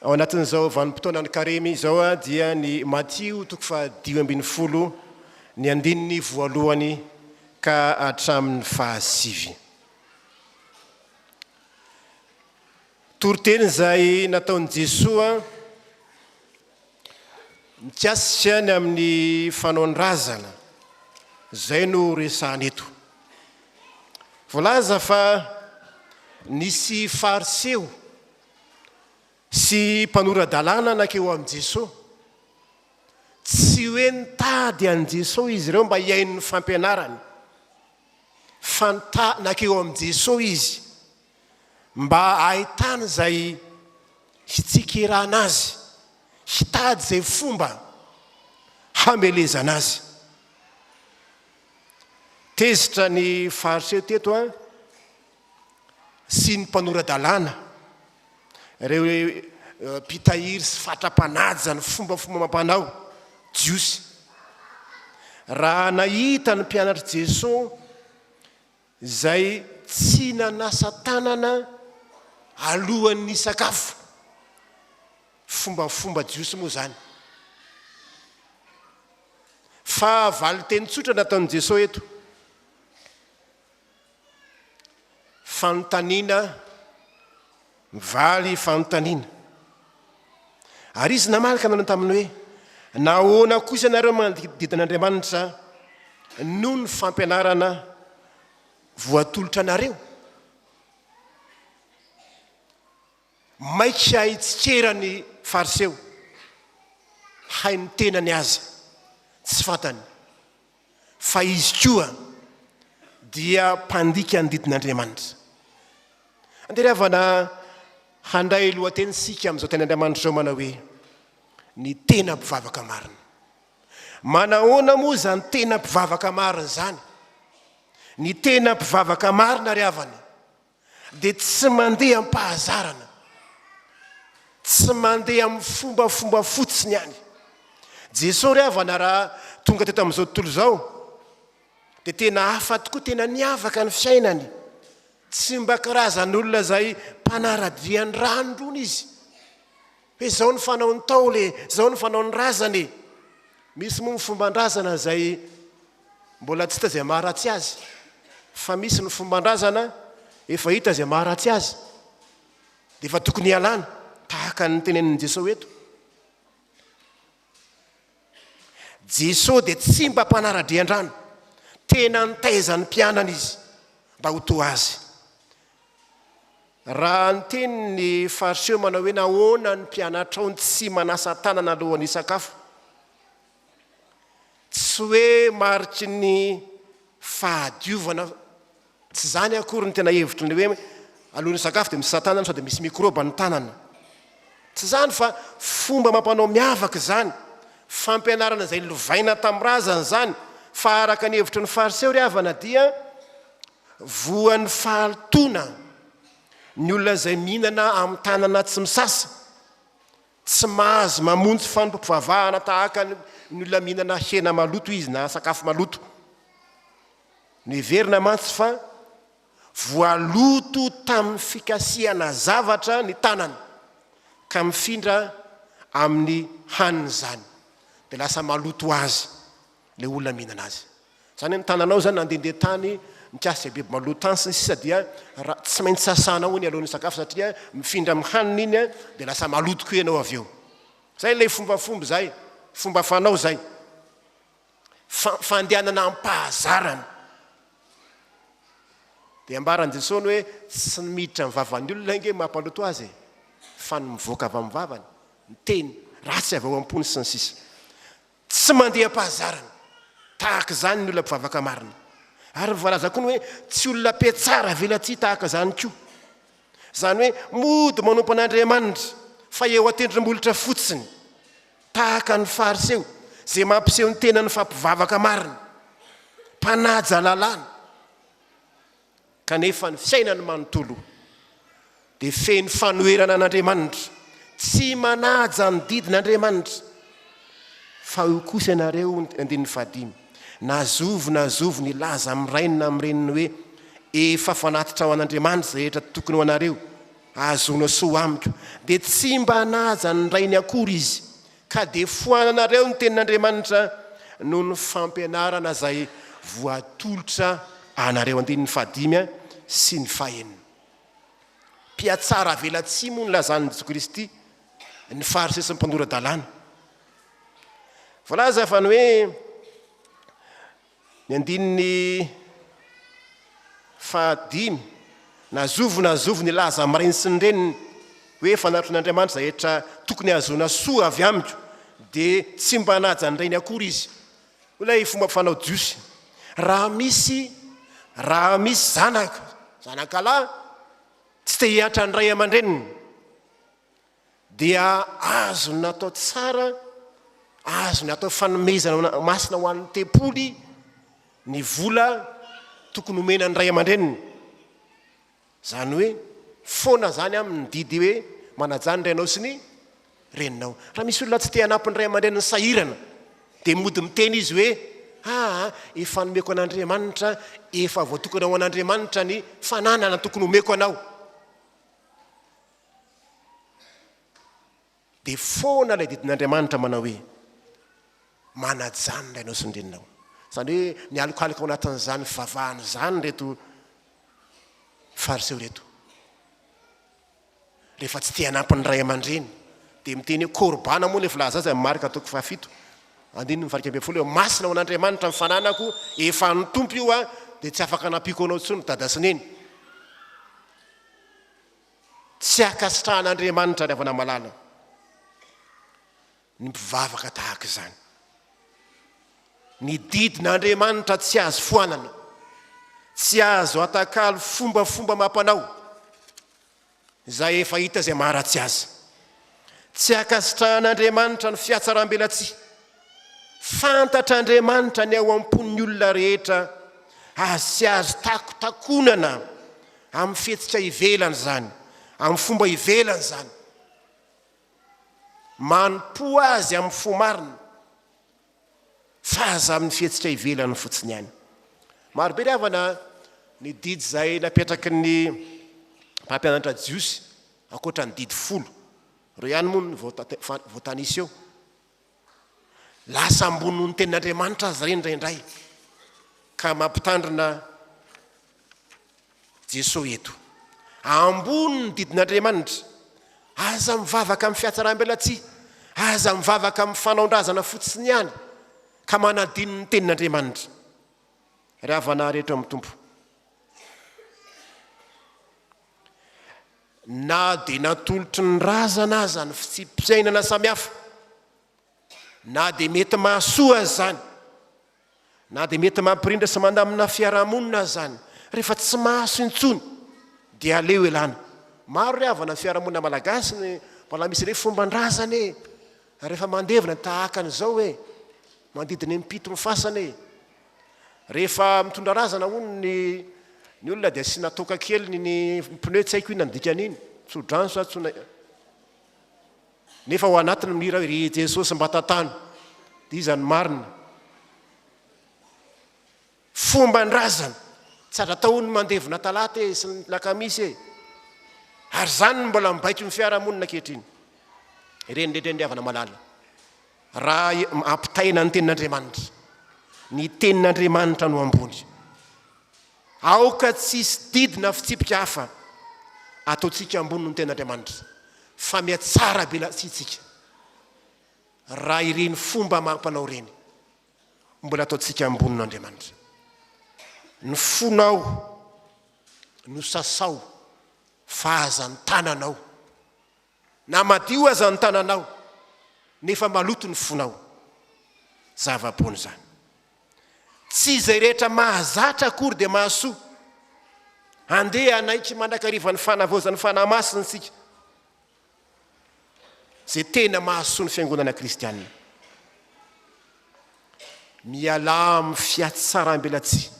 Ao anatin'izao vanim-potoanan'ny Karemy izao dia ny Matio toko fahadimy ambin'ny folo ny andininy voalohany ka hatramin'ny fahasivy. Toriteny izay nataon'i Jesoa mikasika ny amin'ny fanaon-drazana izay no resahana eto. Voalaza fa nisy Fariseo sy mpanora-dalàna nankeo amin'i Jeso. Tsy hoe nitady an'i Jeso izy ireo mba hihaino ny fampianarany, fa nitady nankeo amin'i Jeso izy mba hahitana izay hitsikerana azy, hitady izay fomba hamelezana azy. Tezitra ny faritreto teto an. sy ny mpanora-dalàna, ireo mpitahiry sy fatra-panaja ny fombafomba amam-panao jiosy. Raha nahita ny mpianatr'i Jeso izay tsy nanasa tanana alohan'ny nisakafo, fombafomba jiosy moa izany. Fa valin-teny tsotra nataon'i Jeso eto. Fanontaniana mivaly fanontaniana. Ary izy namaly ka nanao taminy hoe, Nahoana kosa ianareo manadidididina an'Andriamanitra noho ny fampianarana voatolotra anareo? Maika hitsikera ny Fariseo, hay ny tenany aza tsy fantany. fa izy koa dia mpandika ny didin'Andriamanitra. Andeha ry havana handray lohateny isika amin'izao teny Andriamanitra izao manao hoe ny tena mpivavaka marina. Manahoana moa izany tena mpivavaka marina izany? Ny tena mpivavaka marina ry havana dia tsy mandeha am-pahazarana, tsy mandeha amin'ny fombafomba fotsiny ihany. Jesosy ry havana raha tonga teto amin'izao tontolo izao dia tena hafa tokoa, tena niavaka ny fiainany. Tsy mba karazan'olona izay mpanara-dia ny rano irony izy. Hoe zao ny fanao ny Ntaolo e, zao ny fanao ny razana e. Misy moa ny fomban-drazana izay mbola tsy hita izay maharatsy azy, fa misy ny fomban-drazana efa hita izay maharatsy azy, dia efa tokony hialana, tahaka ny tenenin'i Jesosy eto. Jesosy dia tsy mba mpanara-drian-drano, tena nitaiza ny mpianany izy mba ho toa azy. Raha ny tenin' ny Fariseo manao hoe nahoana ny mpianatrao no tsy manasa tanana alohan'ny hisakafo? Tsy hoe mariky ny fahadiovana, tsy izany akory ny tena hevitry ny hoe alohan'ny hisakafo dia misasa tanana sao dia misy mikrôba ny tanana. Tsy izany fa fomba amam-panao miavaka izany, fampianarana izay lovaina tamin'ny razana izany, fa araka ny hevitry ny Fariseo ry havana dia, Voan'ny fahalotoana ny olona izay mihinana amin'ny tanana tsy misasa. Tsy mahazo mamonjy fanompoam-pivavahana tahaka ny olona mihinana hena maloto izy na sakafo maloto. Noheverina mantsy fa voaloto tamin'ny fikasihana zavatra ny tanany, ka mifindra amin'ny haniny izany, dia lasa maloto ho azy ilay olona mihinana azy. Zany hoe ny tananao zany nandendeha tany nikasika biby maloto tany sy ny sisa dia raha tsy maintsy sasanao iny alohan'ny hisakafo satria mifindra amin'ny hanina iny dia lasa maloto koa ianao avy eo. Zay ilay fombafomba zay, fomba fanao zay. Fa- fandehanana am-pahazarana. Dia ambaran'i Jesosy hoe tsy ny miditra amin'ny vavan'ny olona ange mampaloto azy e, fa ny mivoaka avy amin'ny vavany, ny teny, ratsy avy ao am-pony sy ny sisa. Tsy mandeha am-pahazarana tahaka izany ny olona mpivavaka marina. Ary voalaza koa ny hoe tsy olona mpihatsara velatsihy tahaka izany koa. Izany hoe mody manompo an'Andriamanitra fa eo an-tendrombohitra fotsiny, tahaka ny Fariseo izay mampiseho ny tenany fa mpivavaka marina, mpanaja lalàna. Kanefa ny fiainany manontolo dia feno fanoherana an'Andriamanitra, tsy manaja ny didin'Andriamanitra. Fa io kosa ianareo, andininy fahadimy, na zovy na zovy nilaza amin'ny rainy na amin'ny reniny hoe, Efa fanatitra ho an'Andriamanitra izay rehetra tokony ho anareo, ahazoana soa amiko, dia tsy mba hanaja ny rainy akory izy, Ka dia foananareo ny tenin'Andriamanitra noho ny fampianarana izay voatolotra anareo, andininy fahadimy sy ny fahenina. Mpiatsara avelatsihy moa ny lazan'i Jesoa Kristy, ny Fariseo sy ny mpandora-dalàna. Voalaza fa ny hoe. Ny andininy fahadimy, Na zovy na zovy nilaza amin'ny rainy sy ny reniny hoe fanatron'Andriamanitra izay rehetra tokony hahazoana soa avy amiko, dia tsy mba hanaja ny rainy akory izy. Hoy ilay fomba fanao jiosy, Raha misy, raha misy zanaka, zanakalahy, tsy te-hiantra ny ray aman-dreniny, dia azony natao tsara, azony atao fanomezana masina ho an'ny tempoly ny vola tokony homena ny ray aman-dreniny. Izany hoe foana izany amin'ny didy hoe manajà ny rainao sy ny reninao. Raha misy olona tsy te hanampy ny ray aman-dreniny sahirana, dia mody miteny izy hoe aa ah, efa nomeko an'Andriamanitra, efa voatokana ho an'Andriamanitra ny fananana tokony homeko anao. Dia foana ilay didin'Andriamanitra manao hoe, Manajanona ianao sy ny reninao. Izany hoe mialokaloka ao anatin'izany fivavahana izany ireto Fariseo ireto. Rehefa tsy te hanampy ny ray aman-dreny, dia miteny hoe korbana moa ilay filaza azy amin'ny Marka toko fahafito. Andininy ny varika ambin'ny folo hoe masina ho an'Andriamanitra ny fananako, efa an'ny Tompo io aho, dia tsy afaka hanampiako anao intsony dada sy neny. Tsy ankasitrahan'Andriamanitra ny havana malala ny mpivavaka tahaka izany. Ny didin'Andriamanitra tsy azo foanana, tsy azo atakalo fombafomba amam-panao izay efa hita izay maharatsy azy. Tsy ankasitrahan'Andriamanitra ny fihatsarambelatsihy. Fantatr'Andriamanitra ny ao am-pon'ny olona rehetra ary tsy azo takotakonana amin'ny fihetsika ivelany izany, amin'ny fomba ivelany izany. Manompo Azy amin'ny fo marina fa aza amin'ny fihetsika ivelany fotsiny ihany. Marobe ry havana ny didy izay napetraky ny mpampianatra jiosy, ankoatra ny didy folo. Ireo ihany moa no voatanisa eo. Lasa ambony noho ny tenin'Andriamanitra aza ireny indraindray, ka mampitandrina Jesosy eto. Ambony ny didin'Andriamanitra. Aza mivavaka amin'ny fihatsaram-belatsihy, aza mivavaka amin'ny fanaon-drazana fotsiny ihany, ka manadino ny tenin'Andriamanitra. Ry havana rehetra amin'ny Tompo. Na dia natolotry ny razana aza ny fitsipi-piainana samihafa, na dia mety mahasoa aza izany, na dia mety mampirindra sy mandamina fiarahamonina aza izany, rehefa tsy mahasoa intsony dia aleo elana. Maro re havana ny fiarahamonina malagasy no mbola misy ireny fomban-drazana e! Rehefa mandevina tahaka an'izao e! Manodidina impito ny fasana e! Rehefa mitondra razana hono ny ny olona dia asiana toaka kely ny ny pneu tsy haiko inona ny dikan'iny tsodrano sa tsona nefa ao anatiny mihira hoe ry jesosy mba tantano dia iza ny marina fomba ny razana tsy aza atao ny mandevona talata e sy ny lakamisy e ary izany ny mbola mibaiko ny fiarahamonina ankehitriny ireny rehetra ny ry havana malala Raha ampitaina ny tenin'Andriamanitra, ny tenin'Andriamanitra no ambony. Aoka tsy hisy didy na fitsipika hafa ataontsika ambony noho ny tenin'Andriamanitra, fa mihatsara be latsy isika raha ireny fomba amam-panao ireny mbola ataontsika ambony noho Andriamanitra. Ny fonao no sasao fa aza ny tananao. Na madio aza ny tananao nefa maloto ny fonao. Zava-boana izany. Tsy izay rehetra mahazatra akory dia mahasoa. Andeha hanaiky mandrakariva ny fanavaozan'ny Fanahy Masina isika, izay tena mahasoa ny fiangonana kristianina. Mialà amin'ny fihatsarambelatsihy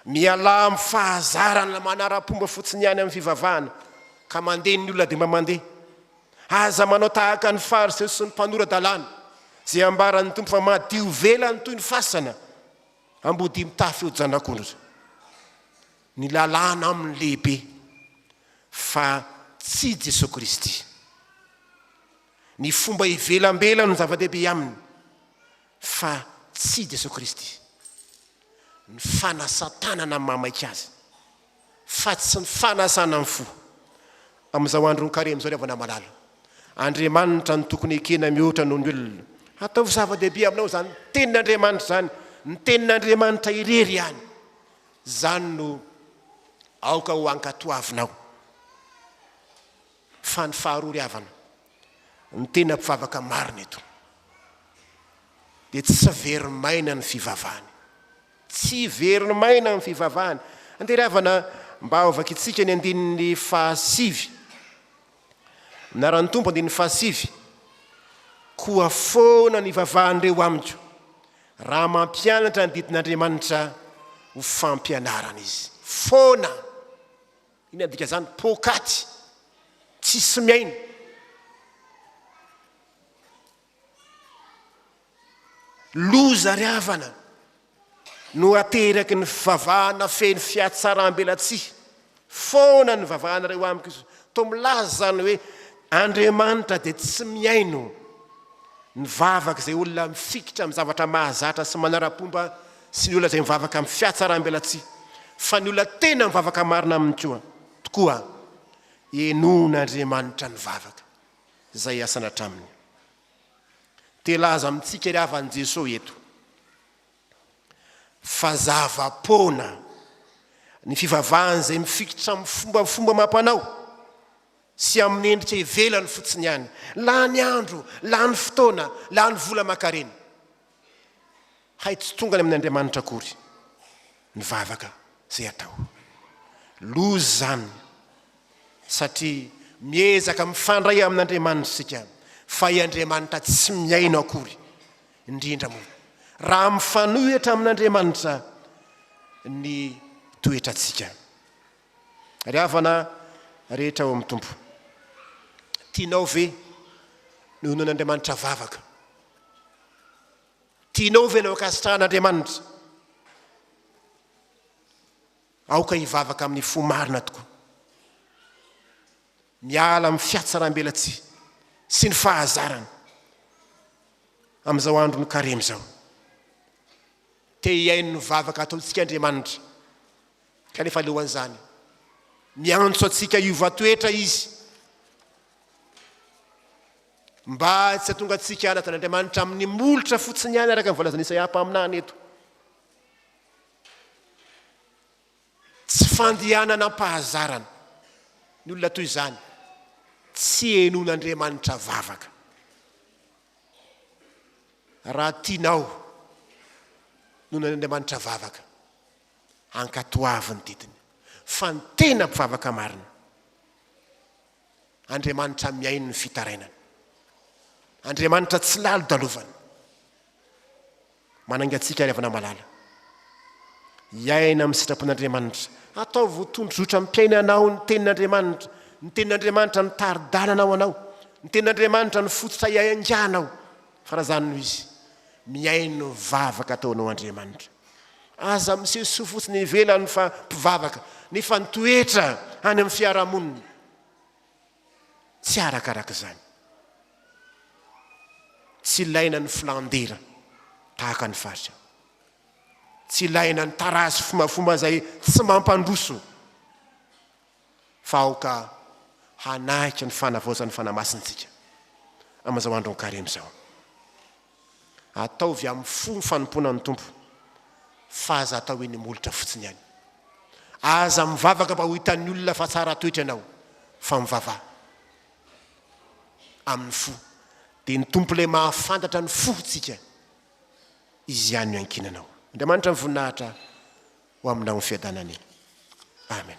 Mialà amin'ny fahazarana manara-pomba fotsiny ihany amin'ny fivavahana ka mandeha ny olona dia mba mandeha. Aza manao tahaka ny Fariseo sy ny mpanora-dalàna, izay ambaran'ny Tompo fa madio velany toy ny fasana ambodia mitafy hojanak'ondry. Ny lalàna aminy lehibe fa tsy Jesoa Kristy. Ny fomba ivelambelany no zava-dehibe aminy. Fa tsy i Jesoa Kristy. Ny fanasan-tanana mamaika azy, fa tsy ny fanasana ny fo. Amin'izao andron'ny karemy izao ry havana malala, Andriamanitra no tokony ekena mihoatra noho ny olona. Ataovy zava-dehibe aminao izany Tenin'Andriamanitra izany, ny Tenin'Andriamanitra irery ihany. Izany no aoka ho ankatoavinao. Fa ny faharoa ry havana, ny tena mpivavaka marina eto dia tsy very maina ny fivavahany. Tsy very maina ny fivavahany. Andeha ry havana mba hovakintsika ny andininy fahasivy. Minaran'ny Tompo andininy fahasivy, Koa foana ny vavahan'ireo amiko, raha mampianatra ny didin'Andriamanitra ho fampianarana izy. Foana! Inona dikan'izany? Poakaty tsisy miaina. Loza ary havana no ateraky ny fivavahana feno fihatsaram-belatsihy. Foana ny vavahanareo amiko izy. Toa milaza izany hoe Andriamanitra dia tsy mihaino ny vavak'izay olona mifikitra amin'ny zavatra mahazatra sy manara-pomba sy ny olona izay mivavaka amin'ny fiatsaram-belatsihy, fa ny olona tena mivavaka marina aminy koa tokoa henoin'Andriamanitra ny vavaka izay hiasana hatramin'ny. Te hilaza amintsika ry havan'i Jesoa eto fa zava-poana ny fivavahana izay mifikitra amin'ny fombafomba amam-panao sy amin'ny endrika ivelany fotsiny ihany. Lany andro, lany fotoana, lany vola aman-karena. Hay tsy tonga any amin' Andriamanitra akory ny vavaka izay atao. Loza izany satria miezaka mifandray amin' Andriamanitra isika fa i Andriamanitra tsy mihaino akory, indrindra moa raha mifanohitra amin' Andriamanitra ny toetrantsika. Ry havana rehetra ao amin' ny Tompo, tianao ve ny honoan' Andriamanitra vavaka Tianao ve ny ankasitrahan'Andriamanitra? Aoka hivavaka amin'ny fo marina tokoa. Miala amin'ny fiatsarambelatsihy sy ny fahazarana amin'izao andron'ny karemy izao. Te hihaino ny vavaka ataontsika Andriamanitra. Kanefa alohan'izany, miantso antsika hiova toetra izy. Mba tsy hahatonga antsika hanatona an'Andriamanitra amin'ny molotra fotsiny ihany araka ny voalazan'i Isaia mpaminany eto. Tsy fandehanana am-pahazarana ny olona toy izany, tsy henon'Andriamanitra vavaka. Raha tianao nonan'Andriamanitra vavaka, ankatoavy ny didiny fa ny tena mpivavaka marina Andriamanitra mihaino ny fitarainana. Andriamanitra tsy lalodalovana. Manainga antsika ry havana malala. Hiaina amin'ny sitrapon'Andriamanitra. Ataovy ho tondrozotra mpiaina anao ny tenin'Andriamanitra. Ny tenin'Andriamanitra no tari-dalana ho anao. Ny tenin'Andriamanitra no fototra iainganao. Faran'izany noho izy, mihaino ny vavaka ataonao Andriamanitra. Aza miseho soa fotsiny ivelany fa mpivavaka, nefa ny toetra any amin'ny fiarahamonina tsy arakaraka izany. Tsy ilaina ny filan-dera tahaka ny faritra. Tsy ilaina ny tarazo fomafoma izay tsy mampandroso. fa aoka hanahika ny fanavaozan'ny Fanahy Masina isika amin'izao andron'ny Karemy izao. Ataovy amin'ny fo ny fanompoana ny Tompo, fa aza atao eny molotra fotsiny ihany. Aza mivavaka mba ho hitan'ny olona fa tsara toetra ianao, fa mivava amin'ny fo, dia ny Tompo ilay mahafantatra ny fotsika, Izy ihany no iankinanao. Andriamanitra ny voninahitra ho aminao ny fiadanany. Amen.